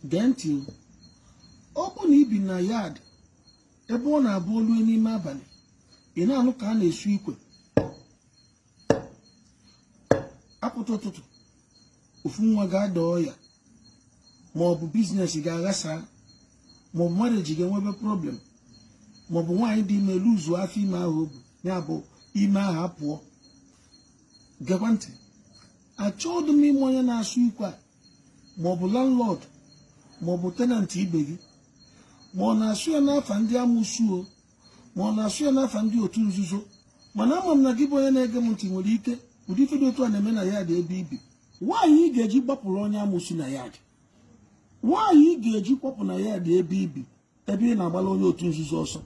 gee ntị o ọ bụ na i bi na yard ebe ọ na-abụ o lue n'ime abalị ị na-anụ ka a na-esu ikwe apụta ụtụtụ ofu nwa ga-ada ọya ma ọ bụ biznes ga-aghasa ma ọ bụ marriage ga-enwebe problem ma ọ bụ nwaanyị dị ime luzu afọ ime ahụ o bu ya bụ ime ahụ apụọ gekwa ntị achọghị m ịma onye na-asụ ikwe a ma ọ bụ landlord ma ọ bụ tenant ibe gị ma ọ na-asụ ya n'afa ndị amusu o ma ọ na-asụ ya n'afa ndị otu nzuzo mana ama m na gị bụ onye na-ege m ntị nwere ike ụdị ife dị otu a na-eme na yard ebe i bi why ị ga-eji gbapụrụ onye amusu na yard why ị ga-eji kwapụ na yard ebe i bi ebe ị na-agbala onye otu nzuzo ọsọ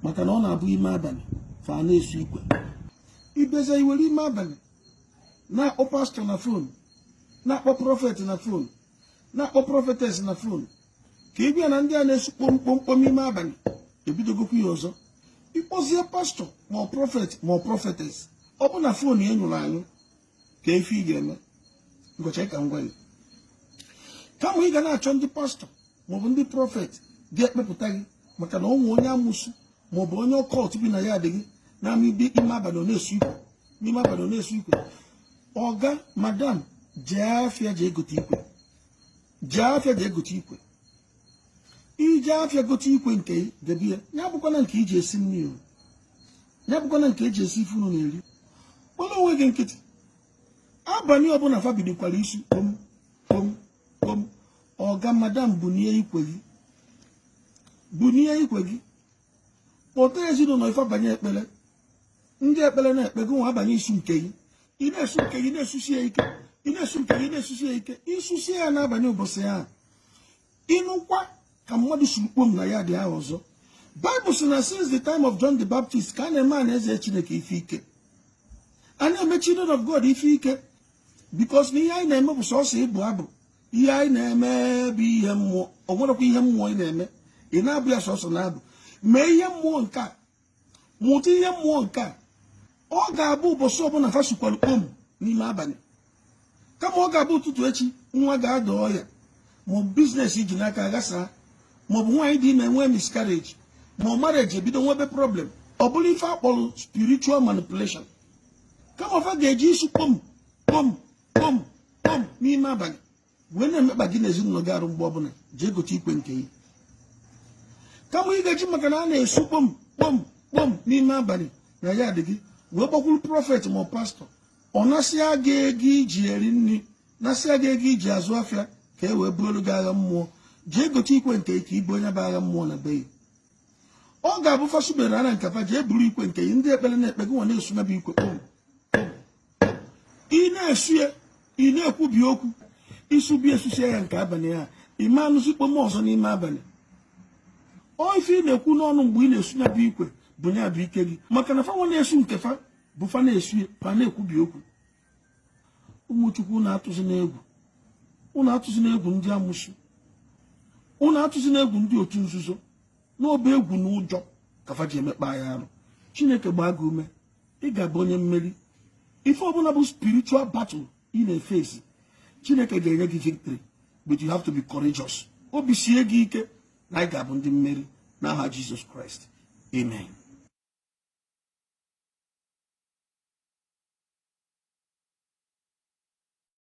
maka na ọ na-abụ ime abalị fa na-esu ikwe ibeza i were ime abalị na-akpọ pastọ na fon na-akpọ prọfet na fon na-akpọ prọfetes na fon ka ị gwa ya na ndị a na-esu kpom kpom kpom ime abalị ebidogokwu ya ọzọ ị kpọzie pastọ ma ọ prọfet ma ọ prọfetes ọ bụ na fon ya nyụrụ anyụ kee ife ị ga-eme m ga-achọ ka m gwa gị kama ị ga na-achọ ndị pastọ maọbụ ndị prọfet ga-ekpepụta gị maka na o nwe onye amusu maọbụ onye occult bi na yard gị na-ama ibe ime abalị ọ na-esu ikwe n'ime abalị ọ na-esu ikwe ọga madam jee afịa jee gote ikwe jee afịa jee gote ikwe i jee afịa gote ikwe nke debe ya ya bụkwana nke i ji esi nri ya bụkwana nke e ji esi ife unu na-eri gbalụ onwe gị nkịtị abalị ọbụla fa bidokwara isu kpom kpom kpom ọga madam bunie ikwe gị bunie ikwe gị kpọta ezinụlọ gị fa abanye ekpere ndị ekpere na-ekpe gị nwa abanye isu nke gị ị na-esu nke gị na-esusi ya ike ị na-esu nke gị na-esusi ya ike i susie ya n'abalị ụbọchị ahụ ị nụkwa ka mmadụ suru kpom na yard ahụ ọzọ bible sị na since the time of john the baptist ka a na-eme ana eze chineke ife ike a na-eme children of god ife ike because na ihe anyị na-eme bụ sọsọ ịbụ abụ ihe anyị na-eme bụ ihe mmụọ o nwerekwa ihe mmụọ ị na-eme ị na-abụ ya sọsọ n'abụ mee ihe mmụọ nke a mụta ihe mmụọ nke a ọ ga-abụ ụbọchị ọbụla fa sukwara kpom n'ime abalị kama ọ ga-abụ ụtụtụ echi nwa ga-ada ọya maọbụ biznes i ji n'aka aghasaa maọbụ nwaanyị dị ime nwee miscarriage ma ọ marriage ebido nwebe problem ọ bụrụ ife a kpọrọ spiritual manipulation kama fa ga-eji isu kpom kpom kpom kpom n'ime abalị wee na-emekpa gị na ezinụlọ gị arụ mgbe ọbụla jee gote ikwe nke gị kama ị ga-eji maka na a na-esu kpom kpom kpom n'ime abalị na yard gị wee gbakwuru prọfet ma pastọ ọ nasịa gị ego ị ji eri nri nasịa gị ego ị ji azụ afịa ka e wee buolu gị agha mmụọ jee gote ikwe nke gị ka i buo nya bụ agha mmụọ na be ya ọ ga-abụ fa subere ara nke fa jee buru ikwe nke gị ndị ekpere na-ekpe gị nwa na-esu ya bụ ikwe kpom kpom ị na-esu ya ị na-ekwubi okwu i subie susie ya nke abalị a ị ma anụzi kpom ọzọ n'ime abalị ọ ife ị na-ekwu n'ọnụ mgbe ị na-esu ya bụ ikwe bụ ya bụ ike gị maka na fa nwa na-esu nke fa bụ fa na-esu ya fa na-ekwubi okwu ụmụ chukwu ụnụ atụzina egwu ụnụ atụzina egwu ndị amụsụ ụnụ atụzina egwu ndị otu nzuzo na ọ bụ egwu na ụjọ ka fa ji emekpa ya arụ chineke gbaa gị ume ị ga-abụ onye mmeri ife ọbụla bụ spiritual battle ị na-eface chineke ga-enye gị victory but you have to be courageous obi sie gị ike na ị ga-abụ ndị mmeri n'aha Jizọs Kraịst amen